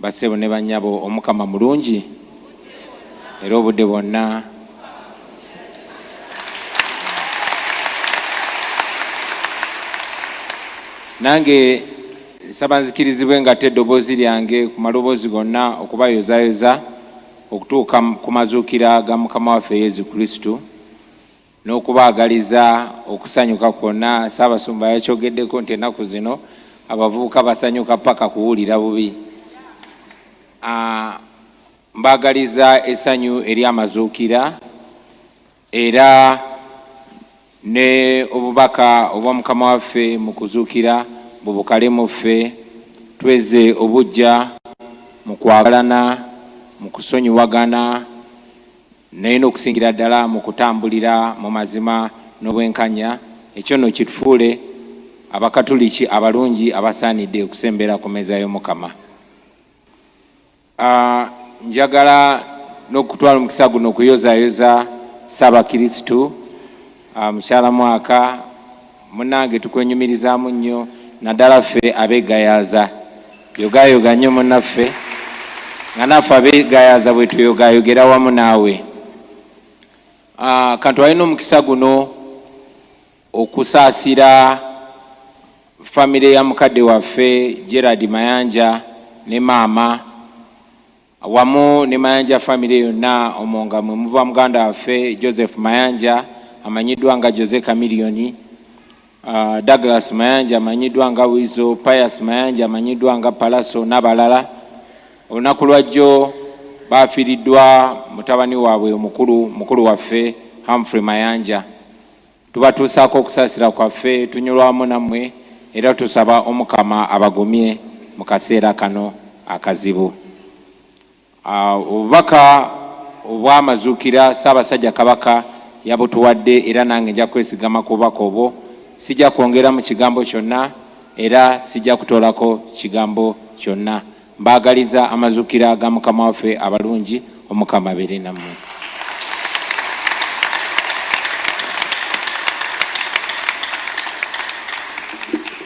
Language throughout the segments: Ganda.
Bassebo ne bannyabo Omukama mulungi era obudde bwonna. Nange nsaba nzikirizibwe ng'atte eddoboozi lyange ku maloboozi gonna okubayozaayoza okutuuka ku mazuukira ga Mukama waffe Yezu Kristu. n'okubaagaliza okusanyuka kwonna. Ssaabasumba yakyogeddeko nti ennaku zino abavubuka basanyuka paka kuwulira bubi. Ah, mbaagaliza essanyu ery'amazuukira era ne obubaka obwa mukama waffe mu kuzuukira bubukale mu ffe tweze obujja mu kwagalana mu kusonyiwagana naye n'okusingira ddala mu kutambulira mu mazima n'obwenkanya, ekyo nno kitufuule Abakatuliki abalungi abasaanidde okusembera ku mmeeza y'Omukama. Ah, njagala n'okutwala omukisa guno okuyozaayoza Ssaabakirisitu ah, mukyala mwaka Munange tukwenyumirizaamu nnyo naddala ffe abeegayaza yogaayoga nnyo munaffe nga naffe abeegayaza bwe tuyogaayogera wamu naawe ah, kantu alina omukisa guno okusaasira famire ya mukadde waffe gerard mayanja ne maama wamu ne Mayanja famire yonna omwo nga mwe muva muganda waffe Joseph Mayanja amanyiddwa nga Jose Kamiliyoni, uh, Douglas Mayanja amanyiddwa nga Wizo, Pius Mayanja amanyiddwa nga Palaso n'abalala. Olunaku lwajjo baafiiriddwa mutabani waabwe omukulu mukulu waffe Humphrey Mayanja. Tubatuusaako okusaasira kwaffe, tunyulwamu nammwe era tusaba Omukama abagumye mu kaseera kano akazibu. Obubaka obw'Amazuukira Ssaabasajja Kabaka yabutuwadde era nange nja kwesigama ku bubaka obwo, sijja kwongeramu kigambo kyonna era sijja kutoolako kigambo kyonna. Mbaagaliza amazukira ga mukama waffe abalungi omukama abeere nammwe.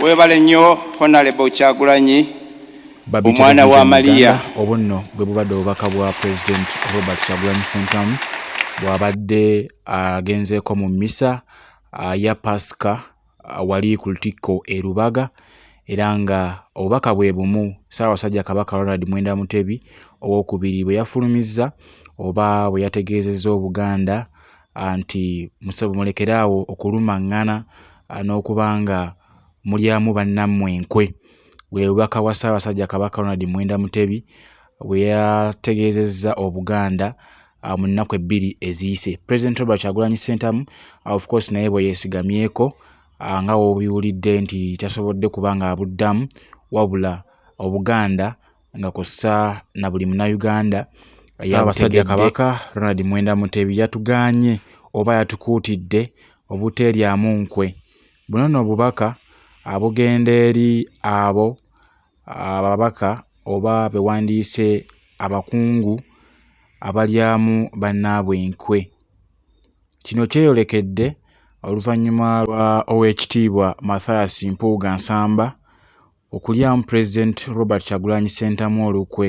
Webale nnyo Honorable Kyagulanyi omwana wa Maria. Obunno bwe bubadde obubaka bwa President Robert Kyagulanyi Ssentamu bw'abadde agenzeeko mu mmisa ya Pasika uh, wali ku lutikko e Lubaga era nga obubaka bwe bumu Ssaabasajja Kabaka Ronald Mwenda Mutebi ow'okubiri bwe yafulumizza oba bwe yategeezezza Obuganda uh, nti musebo mulekere awo okulumaŋŋana uh, n'okuba nga mulyamu bannammwe enkwe bwe bubaka bwa Ssaabasajja Kabaka Ronald Mwenda Mutebi bwe yategeezezza Obuganda uh, mu nnaku ebbiri eziyise president robert kyagulanyi sentamu uh, of course naye bwe yesigamyeko uh, nga wobiwulidde nti tasobodde kuba nga abuddamu wabula obuganda nga kussa na buli munauganda yabasajja kabaka ronald mwenda mutebi yatuganye oba yatukuutidde obuteeryamu nkwe buno no obubaka abugenda eri abo ababaka oba be wandiyise abakungu abalyamu bannaabwe enkwe. Kino kyeyolekedde oluvannyuma lwa Oweekitiibwa Mathias Mpuuga Nsamba okulyamu Pulezidenti Robert Kyagulanyi Ssentamu olukwe.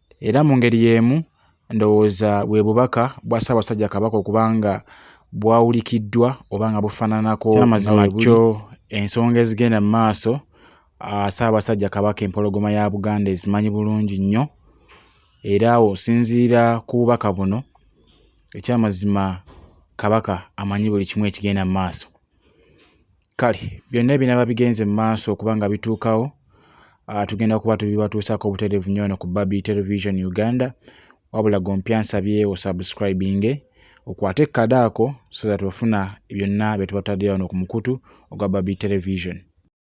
Era mu ngeri y'emu ndowooza bwe bubaka bwa Ssaabasajja Kabaka okuba nga bwawulikiddwa oba nga bufaananako kyamazima kyo ensonga ezigenda mu maaso ah, Ssaabasajja Kabaka Empologoma ya Buganda ezimanyi bulungi nnyo era awo osinziira ku bubaka buno ekyamazima Kabaka amanyi buli kimu ekigenda mu maaso. kale byonna ebinaaba bigenze mu maaso okuba nga bituukawo ah, tugenda kuba tubibatuusako obutereevu nnyo ono ku babi television uganda wabula gompya nsabye osubscribinge okwate ekkadaako so that ofuna byonna bye tubataddeyo wano ku mukutu ogwa babi television